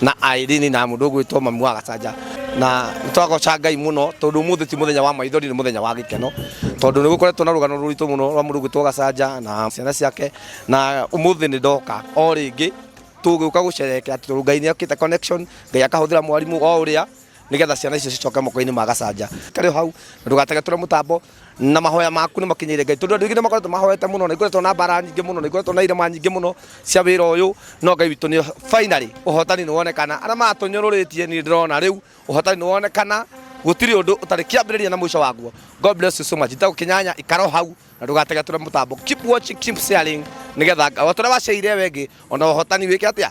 na Irene na mundu gwitwo mamu wa Gacanja na nitwagoca Ngai muno tondu muthi ti muthenya wa maithori ni muthenya wa gikeno tondu ni gukoretwo na rugano ruritu muno rwa mundu gwitwo Gacanja na ciana ciake na umuthi ni ndoka o ringi tugiuka gucerekera tondu Ngai ni okite connection Ngai akahuthira mwarimu o uria nigetha ciana icio cicoke moko-inĩ ma gacanja karĩ o hau na ndũgategetũre mũtambo na mahoya maku nĩ makinyĩre ngai tondũ andũ aingĩ nĩ makoretwo mahoete mũno na ikoretwo na mbara nyingĩ mũno na ikoretwo na irema nyingĩ mũno cia wĩra ũyũ no ngai witũ nĩ finally ũhotani nĩ wonekana arĩa matũnyũrũrĩtie niĩ ndĩrona rĩu ũhotani nĩ wonekana gũtirĩ ũndũ ũtarĩ kĩambĩrĩria na mũico waguo god bless you so much itagũkĩnyanya ikaro hau na ndũgategetũre mũtambo keep watching keep sharing nigetha o tũrĩa waciaire wengĩ ona ũhotani wĩke atĩa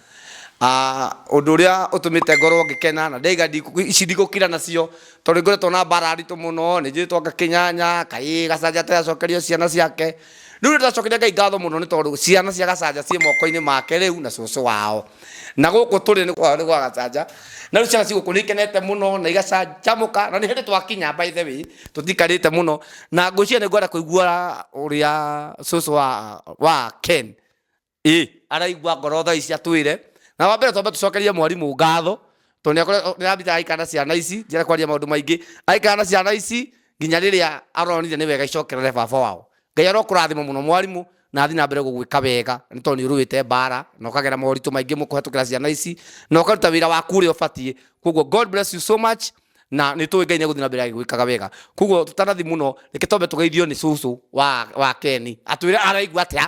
Ah, ũndũ ũrĩa ũtũmĩte ngorwo ngĩkena na ndaiga ndikũ- ici ndigũkira nacio tondũ nĩngoretwo na mbara nditũ mũno nĩnjĩtwo anga kĩnyanya kaĩ gacanja ati acokerio ciana ciake rĩu nĩ ndĩracokeria Ngai ngatho mũno nĩ tondũ ciana cia gacanja ciĩ moko-inĩ make rĩu na cũcũ wao na gũkũ tũrĩ nĩ kwao nĩ gwa gacanja na rĩu ciana ci gũkũ nĩ ikenete mũno na igacanjamũka na nĩ hĩndĩ twakinya by the way tũtikarĩte mũno na ngwĩciria nĩ ngwenda kũigua ũrĩa cũcũ wa wa Ken ĩ araigua ngoro thaa ici atwĩre na wa mbere twambe tũcokerie mwarimũ ngatho tondũ nĩakore- nĩarambite araikara na ciana ici njĩra kwaria maũndũ maingĩ araikara na ciana ici nginya rĩrĩa aronire nĩ wega icokerere baba wao ngai arokũrathima mũno mwarimũ na athi na mbere gũgwĩka wega nĩ tondũ nĩ ũrũĩte mbara na ũkagera moritũ maingĩ mũkũhetũkĩra ciana ici na ũkaruta wĩra waku ũrĩa ũbatiĩ koguo god bless you so much na nĩ tũĩ ngai nĩ egũthiĩ na mbere agĩgwĩkaga wega koguo tũtanathi mũno reke twambe tũgeithio nĩ cũcũ wa, wa keni atwĩre araigua atĩa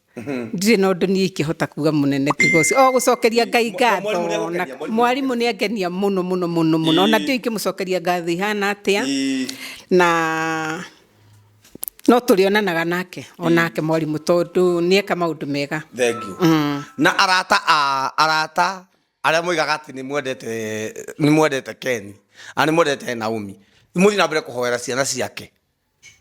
ndirä na å ndå niä ingä hota kuga må nene tiga å cio o gå cokeria ngai ngatho na mwarimå nä angenia må no må no må no må no ona ndio ingä må cokeria ngatho ihana atä a na no tå rä onanaga nake onake mwarimå tondå nä eka maå ndå mega thank you na arata a arata arĩa moigaga atĩ nĩ mwendete nĩ mwendete Ken na nĩ mwendete Naomi mũthiĩ na mbere kũhoera ciana ciake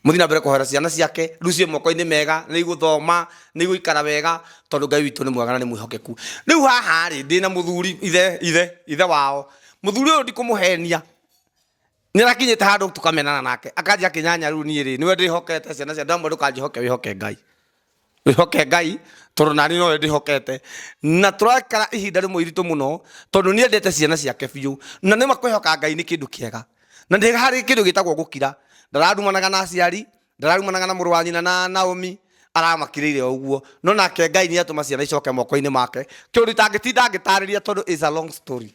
muthi na mbere kuhera ciana ciake riu cie moko-ini mega ni iguthoma ni iguikara wega tondu ngai witu ni mwega na ni mwihokeku riu haha ri ndi na muthuri ithe ithe ithe wao muthuri uyu ndikumuhenia ni arakinyite handu tukamenana nake akanjia akinyanya riu ni ri niwe ndihokete ciana cia ndamwe ndukanjihoke wihoke ngai wihoke ngai tondu nani nowe ndihokete na turakara ihinda rimwe iritu muno tondu ni endete ciana ciake biu na nima kwihoka ngai ni kindu kiega na ndi hari kindu gitagwo gukira ndararumanaga na aciari ndararumanaga na muru wa nyina na Naomi aramakirire uguo no nake ngai ni atuma ciana icoke moko-ini make kiuritu angitinda ngitariria tondu is a long story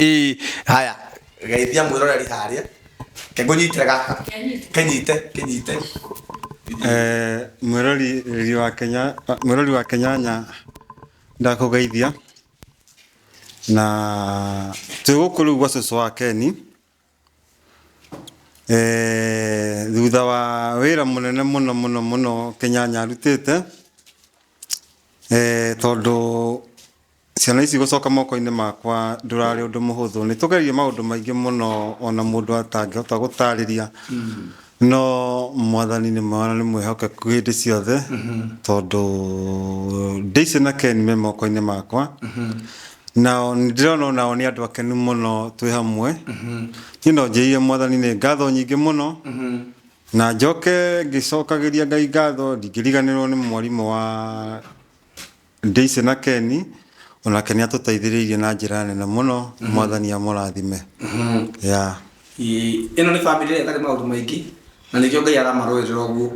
Ii, haya geithia mwiroreri harĩa kengũnyitĩre gaka kenyite kenyite Eh, mwĩrori riri wa kenya mwĩrori wa kenyanya ndakũgeithia na twĩ gũkũ rĩu gwa cũcũ wa keni Thutha wa wĩra mũnene mũno mũno mũno Kĩnyanya arutĩte, tondũ ciana ici gũcoka moko-inĩ makwa ndũrarĩ ũndũ mũhũthũ. Nĩ tũgereire maũndũ maingĩ mũno ona mũndũ atangĩhota gũtaarĩria. No mwathani nĩ mwana nĩ mwĩhokeku hĩndĩ ciothe tondũ Daisy na Ken me moko-inĩ makwa nao nĩ ndĩrona o nao nĩ andũ akenu mũno twĩ hamwe niĩ no njĩire mwathani nĩ ngatho nyingĩ mũno na njoke ngĩcokagĩria ngai ngatho ndingĩriganĩrwo nĩ mwarimũ wa Daisy na Ken onake nä atåteithĩrĩirie na njĩra nene mũno mwathani amũrathime ya Ĩĩ, ĩno nĩ famĩlĩ ĩrĩa ĩtarĩ maũndũ maingĩ na nĩkĩo ngai aramarũĩrĩra ũguo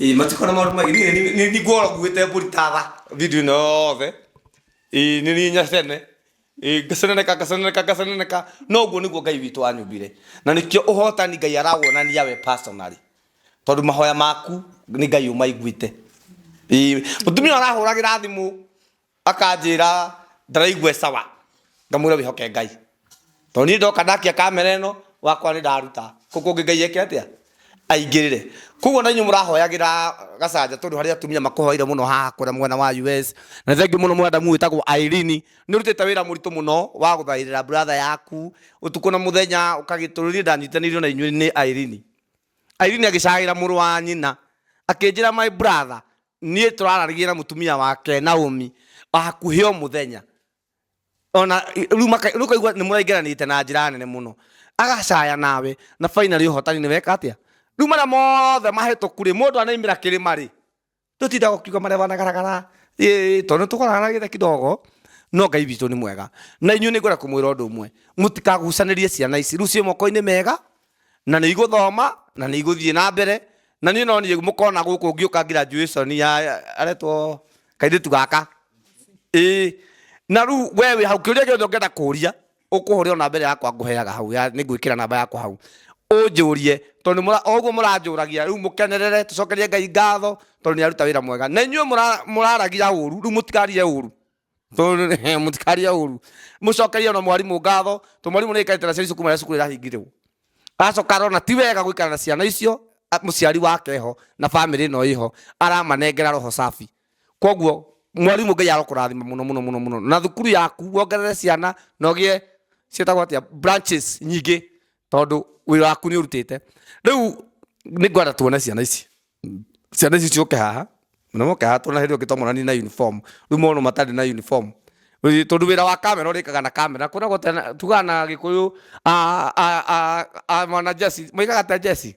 Ĩĩ, matiko na maũndũ maingĩ Niĩ nĩ- nĩ- nĩngworaguĩte mbũri ta tha video ĩno yothe Ĩĩ, nĩ niĩ nyacene Ĩĩ, ngaceneneka ngaceneneka ngaceneneka no ũguo nĩguo ngai witũ anyũmbire na nĩkĩo ũhotani ngai arawonania we personally tondu mahoya maku ni ngai umaiguite Ii, mutumia arahuragira thimu akanjira ndaraigua sawa ngamwira wihoke ngai tondu ni ndoka ndakia kamera ino wakwa ni ndaruta kuu kungi ngai eke atia aingirire koguo na inyu murahoyagira gacanja tondu hari atumia makuhoire muno haha kwina mwena wa us na thengiu muno madamu witagwo Irene ni urutite wira muritu muno wa guthairira brother yaku utuku na muthenya ukagitururia ndanyitanirio na inyui ni Irene Irene agĩcagaĩra mũrũ wa nyina akĩnjĩra, my brother, niĩ tũrararirie na mũtumia wake Naomi o hakuhĩ o mũthenya ona rĩu maka- rĩu kaigua nĩ mũraingĩranĩte na njĩra nene mũno agacaya nawe na finally ũhotani nĩ weka atĩa rĩu marĩa mothe mahĩtũku rĩ mũndũ anaimĩra kĩrĩma rĩ Tũtinda gũkiuga marĩa wanagaragara tondũ nĩ tũkoranagia kidogo no ngai witũ nĩ mwega na inyuĩ nĩ ngwenda kũmwĩra ũndũ ũmwe mũtikagucanĩrie ciana ici rĩu ciĩ moko-inĩ mega na nĩ igũthoma na nĩ igũthiĩ na mbere na niĩ no niĩ mũkona gũkũ ngĩũka graduation ya aretwo kairĩtu gaka ĩĩ na rĩu we wĩ hau kĩũria gĩothe ũngĩenda kũria ũkũhũrĩrwo namba ĩrĩa yakwa ngũheaga hau ya nĩ ngwĩkĩra namba yakwa hau ũnjũrie tondũ nĩ mũra- o ũguo mũranjũragia rĩu mũkenerere tũcokerie ngai ngatho tondũ nĩ aruta wĩra mwega na inyuĩ mũra- mũraragia ũru rĩu mũtikarie ũru Tondũ- eh, mũtikarie ũru mũcokerie ona mwarimũ ngatho tondũ mwarimũ nĩ aikarĩte na ciana icio kuma rĩrĩa cukuru ĩrahingirĩrwo acoka arona ti wega gũikara na ciana icio a- mũciari wake ho na bamĩrĩ ĩno ĩho aramanengera roho safi koguo mwarimũ ngai arokũrathima mũno mũno mũno mũno na thukuru yaku wongerere ciana na ũgĩe ciĩtagwo atĩa branches nyingĩ tondũ wĩra waku nĩ ũrutĩte rĩu nĩ ngwenda tuone ciana ici ciana ici ciũke haha na moke haha tuona hĩndĩ ĩyo ngĩtomorani na uniform rĩu mono matarĩ na uniform Rĩ- tondũ wĩra wa kamera ũrĩkaga na kamera kwĩragwo tena- tugaga na gĩkũyũ a- a- a- a- mwana jesi moigaga ta jesi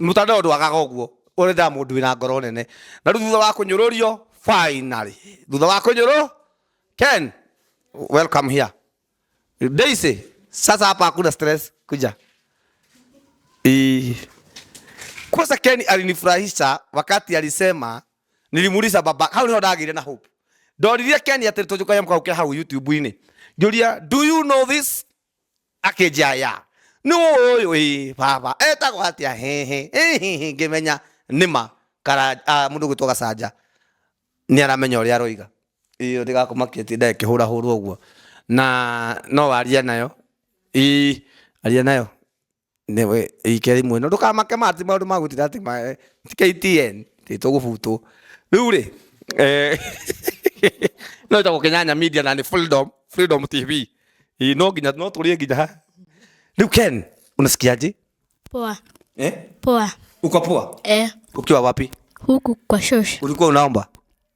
Mũtare ũndũ wagaga ũguo ũrethaga mũndũ wĩna ngoro nene na rĩu thutha wa kũnyũrũrio finally thutha wa kũnyũrũ Ken welcome here Daisy sasa hapa hakuna stress kuja Ii. Kwanza Ken alinifurahisha wakati alisema, nilimuuliza baba, hau ndio ndagire na hope. Ndoririe Ken ati tujuka yamka ukira hau YouTube-ini. Ngiuria, do you know this? akedia ya nũũ ũyũ baba etagwo atĩa hĩhĩ hĩhĩ ngĩmenya nĩma mũndũ ũgwĩtwo gacanja nĩ aramenya ũrĩa aroiga ĩĩ ndĩgakũmakie atĩ nda ĩkĩhũra hũra ũguo na no warie nayo ĩĩ aria nayo. Nĩwe wike rĩmwe ĩno ndũkamake ma atĩ maũndũ ma gũtinda atĩ ma eh, ti KTN ti tũgũbutwo rĩu rĩ eh, no ĩtagwo Kenyanya Media na nĩ Freedom Freedom TV Ĩ, no nginya no tũrĩe nginya ha rĩu Ken unasikiaje Poa. eh Poa. uko poa Eh, ukiwa wapi huku kwa shosh. ulikuwa unaomba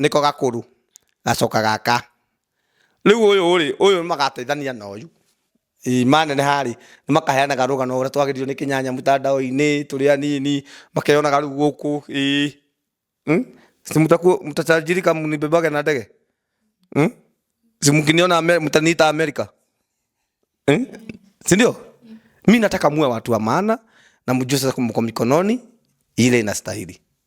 nĩko gakũrũ gacoka gaka. Rĩu ũyũ rĩ, ũyũ nĩ magateithania na ũyũ. Ĩĩ maneneha rĩ, nĩ makaheanaga rũgano ũrĩa twagĩrĩirwo nĩ kĩnyanya mũtandao-inĩ tũrĩ anini, makeyonaga rĩu gũkũ. Ĩĩ. Si mtatajiri kama mlibebwaga na ndege? Si mkiniona mtaniita Amerika? Si ndio? Mi nataka muwe watu wa maana na mjue sasa mko mikononi ile inastahili.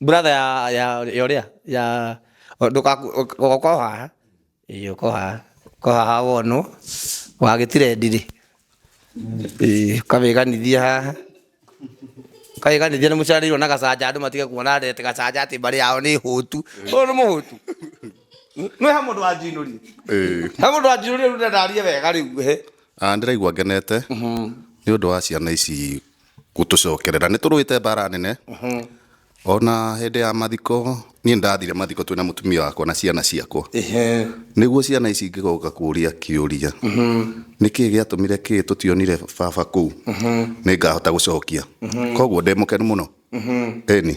Brother ya ya ya uria ya ugoka o haha ii uka o haha uka o haha wonwo wa gitirendi ri ii ukawiganithia haha ukawiganithia ni mucaririrwo na gacanja andu matige kuona ati gacanja ati mbari yao ni hutu uyu ni muhutu nwi ha mundu wanjinurie Ĩĩ. ha mundu wanjinurie riu ndarie wega riu he Ah, ndĩraigua ngenete nĩ ũndũ wa ciana ici gũtũcokerera nĩ tũrũĩte mbara nene ona hĩndĩ ya mathiko niĩ ndathire mathiko twĩna mũtumia wakwa na ciana ciakwa Ehe. nĩguo ciana ici ingĩgoka kũria kĩũria nĩkĩ gĩatũmire kĩ tũtionire baba kũu nĩ ngahota gũcokia koguo ndĩ mũkenu mũno ĩni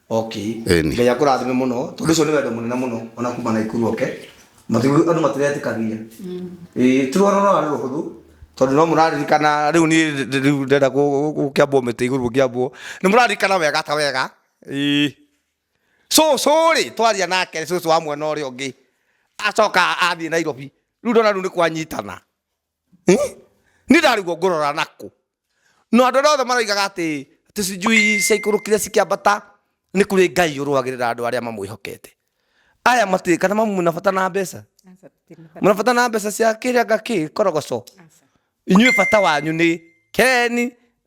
okay Ĩni. ngai akũrathime mũno tondũ ũcio nĩ wendo mũnene mũno ona kuma na ikuru oke Matigu- andũ matiretĩkania Ĩĩ, ti rwaro rwarĩ rũhũthũ tondũ no mũraririkana rĩu niĩ ndĩ- ndĩ- rĩu ndenda kũ- gũkĩambwo mĩtĩ igũrũ gũkĩambwo nĩ mũraririkana wega ta wega Ĩĩ. cũcũ rĩ twaria nake cũcũ wa mwena ũrĩa ũngĩ acoka athiĩ nairobi rĩu ndona rĩu nĩ kwanyitana Eh? ni ndariguo ngurora naku no andu othe maroigaga ati tucijui ciaikũrũkire cikiambata ni kuri ngai urwagirira andu aria mamwihokete aya mati kana mamu na bata na mbeca muna bata na mbeca cia kiria ngaki korogoco inyuĩ bata wanyu ni keni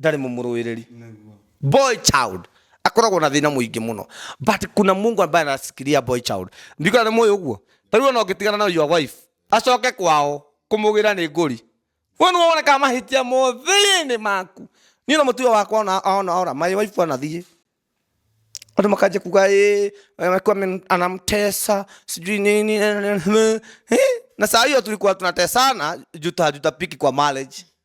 ndarĩ mũmũrũĩrĩri Nĩguo. boy child akoragwo na thĩna mũingĩ mũno but kuna mungu ambaye anasikiria boy child ndikona nĩ mũĩ ũguo tarĩu ona ũngĩtigana na your wife acoke kwao kũmũgĩra nĩ ngũri we nĩ wonekaga mahĩtia mothĩinĩ maku niĩ na mũtuo wakwa ona ona ora my wife anathiĩ andå makanjia kuga "Ĩ, amekuwa amen- anamtesa sijui nini eh, eh, eh." na saa hiyo tulikuwa tunatesana juta juta piki kwa marriage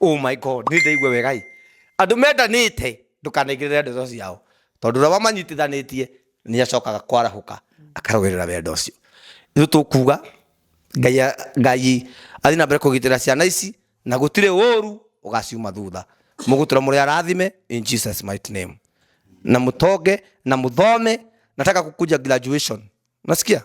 Oh my God, nĩ ndĩraigua wega ĩ. Andũ mendanĩte ndũkanaigĩrĩre ndeto ciao, tondũ ũrĩa wamanyitithanĩtie nĩ acokaga kwarahũka akarũĩrĩra wendo ũcio. Rĩu tũkuga Ngai, Ngai athiĩ na mbere kũgitĩra ciana ici na gũtirĩ ũũru ũgaciuma thutha. Mũgũtũra mũrĩ arathime in Jesus mighty name. Na mũtonge na mũthome, nataka kukuja graduation. Unasikia?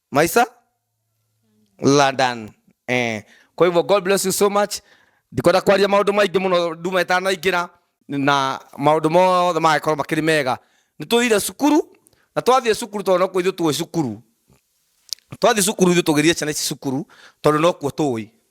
Maisa London eh kwa hivyo God bless you so much ndikwenda kwaria maundu maingi muno nduma itanaingira na maundu mothe magakorwo makiri mega nĩ tũthire cukuru na twathiĩ cukuru tondũ nokuo ithuĩ tũĩ cukuru twathiĩ cukuru ithuĩ tũgĩthiĩ ciana ici cukuru tondũ nokuo tũĩ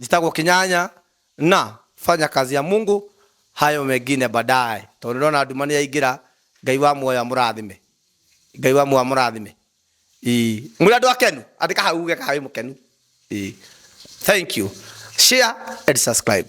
njĩtagwo kĩnyanya na fanya kazi ya mungu hayo mengine baadaye tondũ ndona nduma nĩ yaingĩra ngai wa muoyo amũrathime ngai wa muoyo amũrathime Ĩĩ. mũrĩ andũ akenu andĩka hau uge kana wĩ mũkenu Ĩĩ. thank you share and subscribe